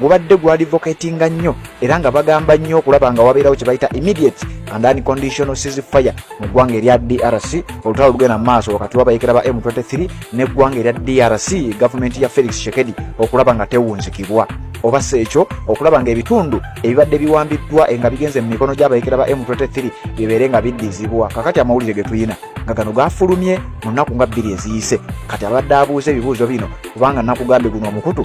gubadde gwadvocatinga nnyo era nga bagamba nnyo okulaba nga wabeerawo kye bayita immediate and unconditional seas fire mu ggwanga erya drc olutalo lugenda mu maaso wakati wabayekera ba m23 n'eggwanga erya drc gavumenti ya felix shekedi okulaba nga tewunzikibwa oba si ekyo okulaba ng'ebitundu ebibadde biwambiddwa nga bigenze mu mikono gy'abayekera ba m23 bibeere nga biddizibwa kakati amawulire ge tulina nga gano gaafulumye mu nnaku nga bbiri eziyise kati abadde abuuza ebibuuzo bino kubanga nakugambye guno omukutu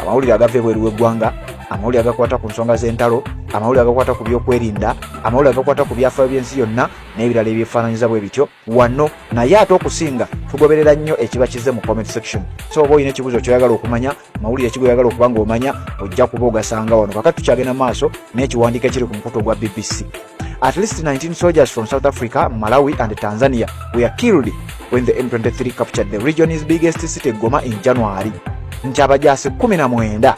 amawulire agava ebweru w'eggwanga amawulire agakwata ku nsonga z'entalo amawulire agakwata ku byokwerinda amawulire agakwata ku byafaayo by'ensi yonna n'ebirala ebyefaananyiza bwe bityo wano naye ate okusinga tugoberera nnyo ekiba kizze mu comment section so oba olina ekibuzo kyoyagala okumanya mawulire kigo oyagala okuba nga omanya ojja kuba ogasanga wano kakati tukyagenda maaso n'ekiwandiiko ekiri ku mukutu ogwa bbc At least 19 soldiers from South Africa, Malawi, and Tanzania were killed when the M23 captured the region's biggest city, Goma, in January. Nti abajaasi 19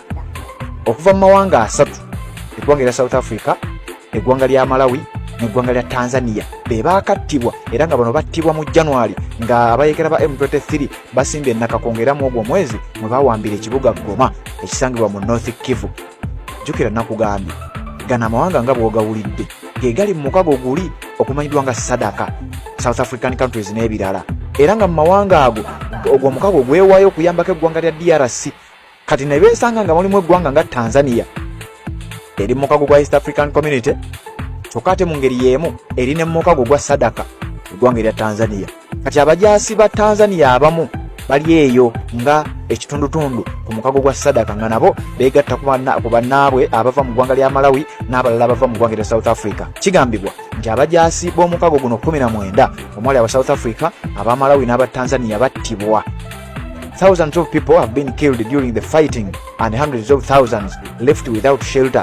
okuva mu mawanga asatu, eggwanga lya South Africa, eggwanga lya Malawi, neggwanga lya Tanzania be baakattibwa era nga bano battibwa mu January nga abayekera ba M23 basimbye ennaka kwongeramu ogwo omwezi mwe bawambira ekibuga Goma ekisangibwa mu North Kivu. jjukira nakugambye gano amawanga nga bwogawulidde gegali mu mukago guli okumanyidwa nga sadaka south african countries n'ebirala era nga mu mawanga ago ogwo omukago gwewayo okuyambako eggwanga lya drc kati nebesanga nga mulimu eggwanga nga tanzania eri mukago gwa east african community kyokka ate mu ngeri y'emu eri ne mukago gwa sadaka eggwanga erya tanzania Kati abajaasi ba Tanzania abamu bali eyo nga ekitundutundu ku mukago gwa sadaka nga nabo beegatta ku bannaabwe abava mu ggwanga lya malawi n'abalala abava mu ggwanga lya south africa kigambibwa nti abajaasi b'omukago guno 19 omwali aba south africa aba malawi n'aba tanzania battibwa Thousands of people have been killed during the fighting and hundreds of thousands left without shelter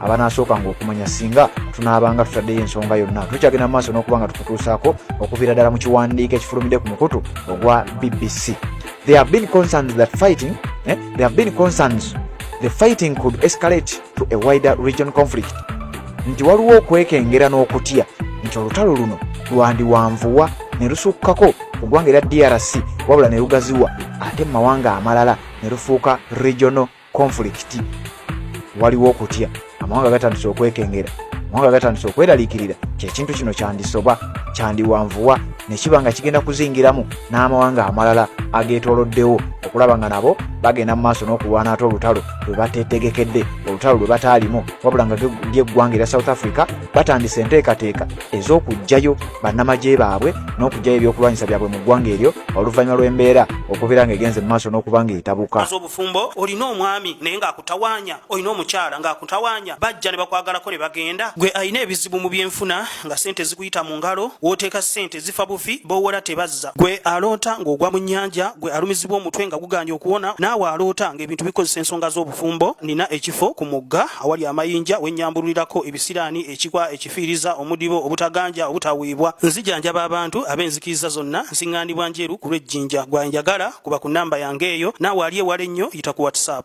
abanaasookanga okumanya singa tunaabanga tutaddeyo ensonga yonna tukyagenda mu maaso n'okuba nga tukutuusaako okuviira ddala mu kiwandiiko ekifulumidde ku mukutu ogwa bbc there have been concerns that fighting eh? there have been concerns the fighting could escalate to a wider region conflict nti waliwo okwekengera n'okutya nti olutalo luno lwandiwanvuwa ne lusukkako ku ggwanga era drc wabula ne lugaziwa ate mu mawanga amalala ne lufuuka regional konfulikiti waliwo okutya amawanga gatandise okwekengera amawanga gatandise okweraliikirira kyekintu kino kyandisoba kyandiwanvuwa nekiba nga kigenda kuzingiramu n'amawanga amalala ageetoloddewo okulaba nga nabo bagenda mu maaso n'okulwana ate olutalo lwe bateetegekedde olutalo lwe bataalimu wabula nga lyeggwanga erya south africa batandise enteekateeka ez'okuggyayo bannamagye baabwe n'okuggyayo ebyokulwanyisa byabwe mu ggwanga eryo oluvannyuma lw'embeera okubeera ng'egenze mu maaso n'okuba ng'etabuka bufumbo olina omwami naye ng'akutawaanya olina omukyala ng'akutawaanya bajja ne bakwagalako ne bagenda gwe alina ebizibu mu byenfuna nga sente zikuyita mu ngalo w'oteeka sente zifa bufi b'owola tebazza gwe aloota ng'ogwa mu nnyanja gwe alumizibwa omutwe nga gugaanye okuwona naawe aloota ng'ebintu bikozesa ensonga z'obufumbo nina ekifo ku mugga awali amayinja wennyambululirako ebisiraani ekikwa efiiriza omudibo obutaganja obutaweebwa nzijanjaba abantu ab'enzikiriza zonna nsiŋŋaanibwa njeru ku lw'ejjinja gwa njagala kuba ku nnamba yange eyo naawe ali ewala ennyo yita ku whatsapp